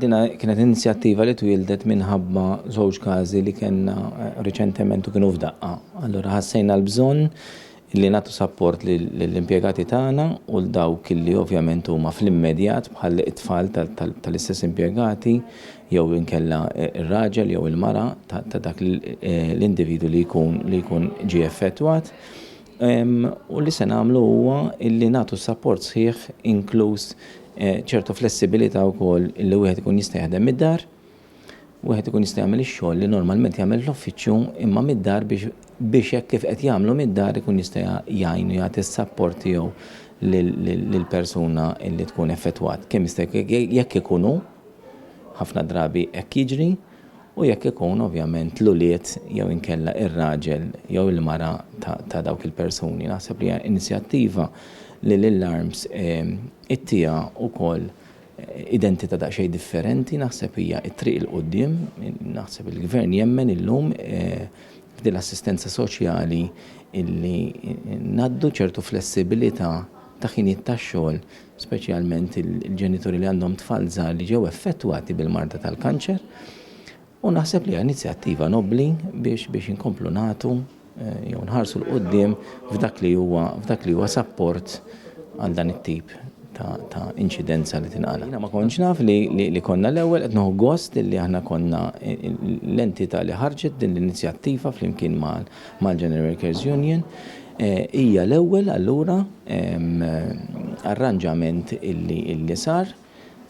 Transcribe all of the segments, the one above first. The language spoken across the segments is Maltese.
Dina kienet inizjattiva li twildet minħabba żewġ każi li kellna eh, riċentement u kienu f'daqqa. Allura ħassejna l-bżonn li nagħtu sapport lill-impjegati tagħna u l dawk li ovvjament huma fl-immedjat bħal it-tfal tal-istess impjegati jew inkella eh, ir-raġel jew il-mara ta' dak eh, l-individu li jkun ġie effettwat. u li se nagħmlu huwa li nagħtu s-sapport sħiħ inkluż ċertu flessibilità wkoll li wieħed ikun jista' jaħdem mid-dar, wieħed ikun jista' jagħmel ix-xogħol li normalment jagħmel fl-uffiċċju imma mid-dar biex biex hekk kif qed jagħmlu mid-dar ikun jista' jgħin u jagħti s-sapport tiegħu lill-persuna li tkun effettwat kemm jista' jekk ikun hu, ħafna drabi hekk jiġri, u jekk ikun, ovvjament, l-ulied jew inkella ir-raġel jew il-mara ta' dawk il-persuni. Naħseb li hija inizjattiva li lil Arms ittiha wkoll identità daqsxejn differenti, naħseb hija t-triq il quddiem naħseb il-Gvern jemmen illum f'din l-assistenza soċjali illi ngħaddu ċertu flessibilità ta' ħinijiet tax-xogħol speċjalment il-ġenituri li għandhom tfal żgħar li ġew effettwati bil-marda tal-kanċer. U naħseb li inizjattiva nobbli biex biex inkomplu nagħtu eh, jew nħarsu l qudiem f'dak li huwa f'dak li huwa sapport għal dan it-tip ta' inċidenza li tinqala. Jina ma konċ naf li, li, li konna l-ewwel qed noħu gost li aħna konna l-entità li ħarġet din l-inizjattiva flimkien mal mal-General Workers Union, hija l-ewwel allura arranġament illi sar,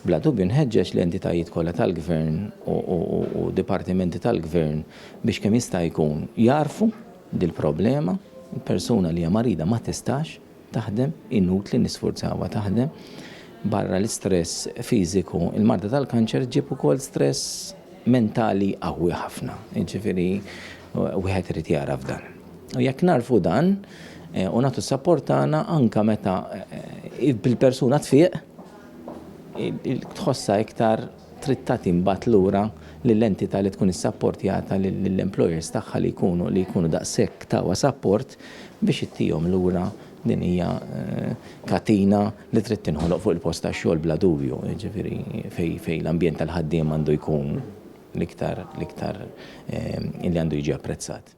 bla dubju nħeġġeġ l-entitajiet kollha tal-Gvern u dipartimenti tal-Gvern biex kemm jista' jkun jagħrfu dil-problema, persuna li hija marida ma tistax, taħdem, inutli nisfurzawha taħdem. Barra l-istress fiżiku, il-marda tal-kanċer ġġib ukoll stress mentali qawwi ħafna. Jiġifieri wieħed irid jagħraf dan. U jekk narfu dan, Eh, u nagħtu s-sapport tagħna anke meta eh, bil-persuna tfiq tħossa iktar trid tagħti mbagħad lura lill-entità li tkun issapportjata lill-employers tagħha li jkunu li jkunu daqshekk tawha sapport biex ittihom lura din hija katina li trid tinħoloq fuq il-post tax-xogħol bla dubju, jiġifieri fejn fejn l-ambjent tal-ħaddiema għandu jkun l-iktar l-iktar li għandu jiġi apprezzat.